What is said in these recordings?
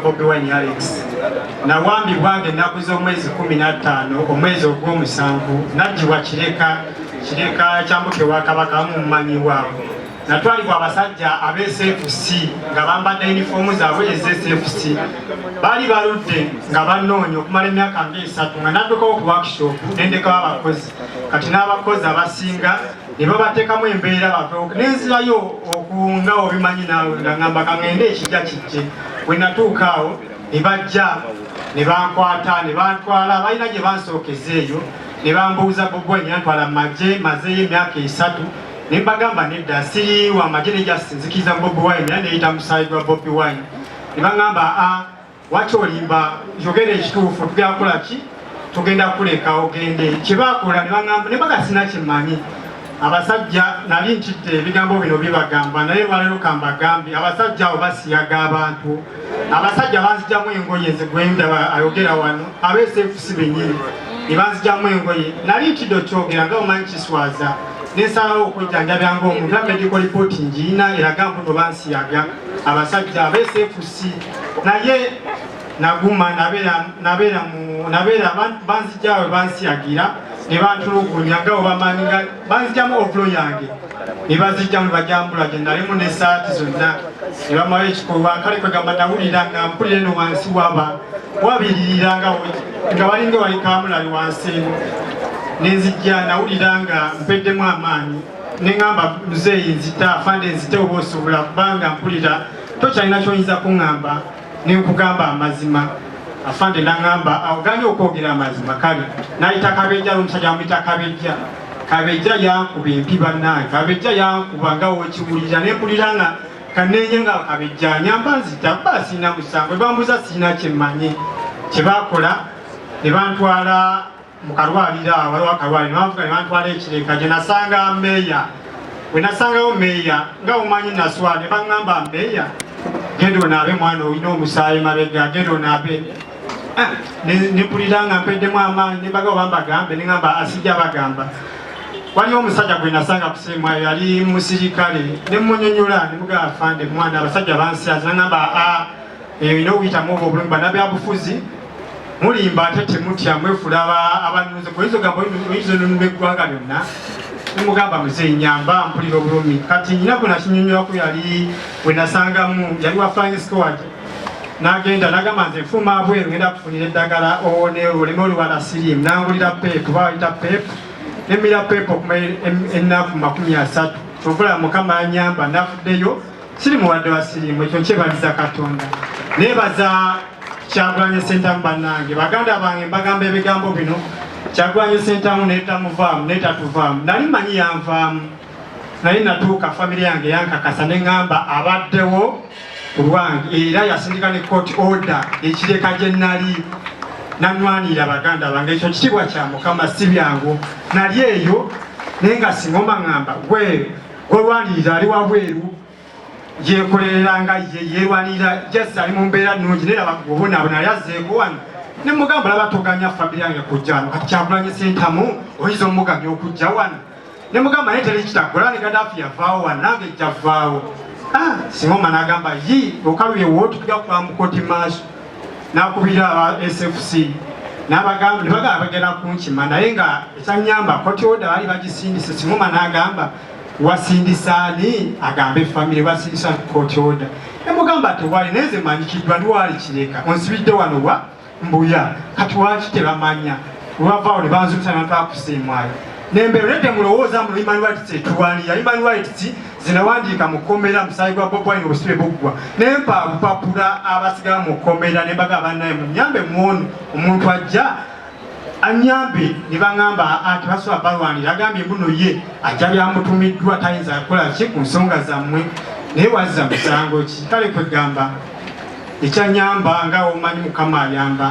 Bobi Wine Alex nawambibwanga ennaku z'omwezi kumi na ttaano omwezi ogw'omusanvu najjibwa kireka kireka kyambuka ewa kabaka amu mumanyi waabwe natwalibwa abasajja aba sfc nga bambadde yunifoomu zaabwe eza sfc baali baludde nga bannoonya okumala emyaka nga esatu nga naddukawo ku workshop nendekawo abakozi kati n'abakozi abasinga ne babateekamu embeera batoke nenzirayo okunga obimanyi naawe nga ngamba kaŋende ekijja kijje bwe natuuka awo ne bajja ne bankwata ne bantwala balina gye bansookeza eyo ne bambuuza bubwe nyantwala mu magye mazeeyo emyaka esatu ne mbagamba nedda siriiwa amagye ne jasinzikiriza bobi wine era neyita musaayi gwa bobi wine ne baŋamba a ah, Lwaki olimba? Yogera ekituufu. Tugenda kukola ki? Tugenda kuleka ogende. Kye baakola ne baŋamba ne baga sina kye mmanyi. Abasajja nali ntidde ebigambo bino bibagamba naye lwaleero ka mbagambe abasajja abo basiyaga abantu. Abasajja banzijamu engoye nze gwe ndaba ayogera wano abeeseefusi bennyini ne banzijamu engoye. Nali ntidde okyogera nga omanyi kiswaza ne nsalawo okujjanjabya ng'omuntu era medical report ngiyina eraga mbuno bansiyaga abasajja abeeseefusi. naye naguma nabeera banzijawe bansiyagira nebantulugunya nga obamanyi nga banzijamu ovulo yange nebazijjamu nebajambula gyenalimu nesaati zonna nebamayo ekikolwa kale kwegamba nawulira nga mpulire no wansi waba wabiririra nga nga balinga wali kamulali wansi eno nenzijja nawulira nga mpeddemu amaanyi neŋamba muzeeyi nzita afande nzite oba osobola kubanga mpulira tokyalina kyoyinza kuŋŋamba ne nkugamba amazima afande naŋŋamba awuganye okwogera amazima kale nayita kabejja n'omusajja amuyita kabejja kabejja yankuba empi bannange kabejja yankuba nga wokiwulira ne mpulira nga kanenye nga kabejja nyamba nzita kuba siina musango ebambuza siina kyemmanyi kye bakola ne bantwala mu kalwaliro awo waliwo akalwaliro banfuka ne bantwala ekireka gye nasanga meeya bwe nasangawo meeya nga omanyi naswa ne baŋŋamba meeya genda onaabe mwana olina omusaayi mabega genda onaabe ah, nepulira nga mpeddemu amaanyi nembaga oba mbagambe neŋamba asijja ah, bagamba waliwo omusajja gwe nasanga kusemwa yali musirikale nemunyonyola nemugaa fande mwana abasajja bansiazi naŋamba a ah, eyo ina okuyitamu oba obulumi banabyabufuzi mulimba ate temutya mwefula abanuzi oyinza ogamba oyinza onunula eggwanga lyonna mugamba muzeyi nyamba mpulira obulumi kati nyina gwe nakinyonyoraku yali wenasangamu yali wa flying squad nagenda nagamba nze nfuma abweru ngenda kufunira eddagala owone oleme olubala sirim nangulira pep bawayita pep nemira pep okuma ennaku makumi asatu kyovula mukama anyamba nafuddeyo siri muwadde wa sirimu ekyo nkyebaliza katonda nebaza kyagulanye sentamu bannange baganda bange mbagamba ebigambo bino kyagulanye sentamu netamuvaamu netatuvaamu nali manyi yanvaamu naye natuuka famiry yange yankakasa neŋamba abaddewo kulwange era yasindika ne court order ekireka gye nali nanwanira baganda bange ekyo kitiibwa kya mukama si byangu nali eyo naye nga singoma ŋamba gwe gwolwanirira ali wabweru yekolerera nga ye yelwanirira just ali mu mbeera nnungi naye laba obonaabona yali azzeeko wano ne mugamba laba toganya famire yange kujja wano kati kyakulanye sentamu oyinza omuganya okujja wano ne mugamba naye teri kitaggola ne gadaafi yavaawo wano nange jjavaawo ah, singa omana agamba yi okaluyewo tukuja kutwamukoti maaso nakubira aba SFC n'abagamba ne bagala bagenda kunkima naye nga ekyanyamba koti oda baali bagisindise simuma n'agamba wasindisa ani agambe famire wasindisa koti oda emugamba tewali naye nze manyikiddwa ndi waali kireka onsibidde wano wa mbuya kati waki tebamanya lwavaawo ne banzuuta natwakusiimwayo nembeera nedde mulowooza mu human rights etuwaniya human rights zinawandiika mu kkomera musaayi gwa Bobi Wine obusibe buggwa naye mpapapula abasigala mu kkomera ne mbaga abannaye munyambe mwonu omuntu ajja anyambe ne baŋŋamba anti basobola balwanira agambye mbuno ye ajja byamutumiddwa tayinza kukola ki ku nsonga zammwe naye wazza musango ki kale kwegamba ekyanyamba nga omanyi mukama ayamba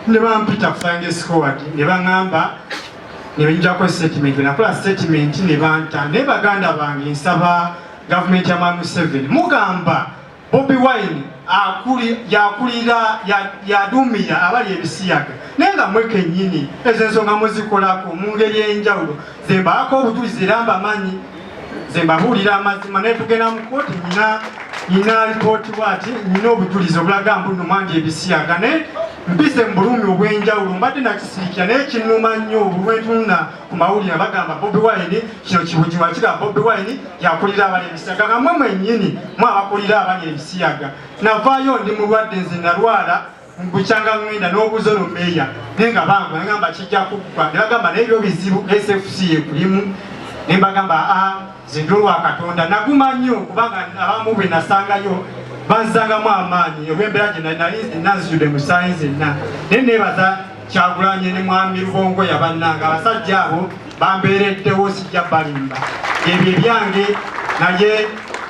ne bampita flying squad ne baŋŋamba nebenjako statement nakola statement nebanta naye baganda bange nsaba gavumenti ya mwami Museveni mugamba Bobi Wine akuli yakulira yadumira abali ebisiyaga naye nga mwe kenyini ezo ensonga muzikolako mu ngeri enjawulo zebaako obujulizi era mbamanyi nze mbabuulira amazima naye tugenda mu kooti nyina nyina alipooti bwati nyina obujulizi obulaga mbuno mwandi ebisiyaga naye mpise mu bulumi obw'enjawulo mbadde nakisiikira naye kinnuma nnyo obulwentunna ku mawulire bagamba bobi wine kino kibujiwa kira bobi wine yakulira abali ebisiyaga nga mwe mwennyini mwe abakulira abali ebisiyaga navaayo ndi mulwadde nze nalwala mbukyanga ngenda n'obuuza ono meeya naye nga bangu nagamba kijja kuggwa ne bagamba naye byo bizibu sfc ekulimu ne mbagamba a ah, zinda olwa katonda naguma nnyo kubanga abamu bwe nasangayo banzangamu amaanyi olw'embeera gye nali nazijudde musaayi zenna naye neebaza kyagulanye ne mwami lubongo yabannanga abasajja abo bambeereddewo sijja balimba ebyo ebyange naye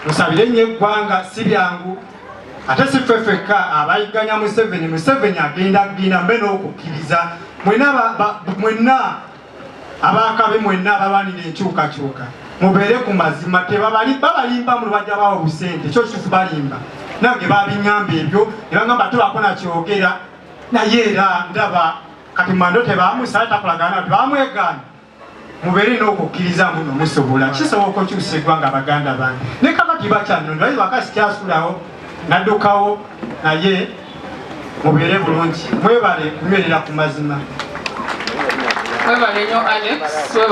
musabire nnyo eggwanga si byangu ate si ffe fekka abayigganya museveni museveni agenda agenda mbe n'okukkiriza mwenna abakabi mwenna abalwanira enkyukakyuka mubeere ku mazima tebabalimba mu lubajja bawo busente ekyo kitufu balimba nange babiŋamba ebyo ne baŋamba tebako nakyogera naye era ndaba kati mando tebamusala takolagana nti bamwegaana mubeere n'okukkiriza mbuno musobola kisoboka okyusa eggwanga abaganda bange ne kabaki bakyanonda aye bakasi kyasulawo naddukawo naye mubeere bulungi mwebale kunywerera ku mazima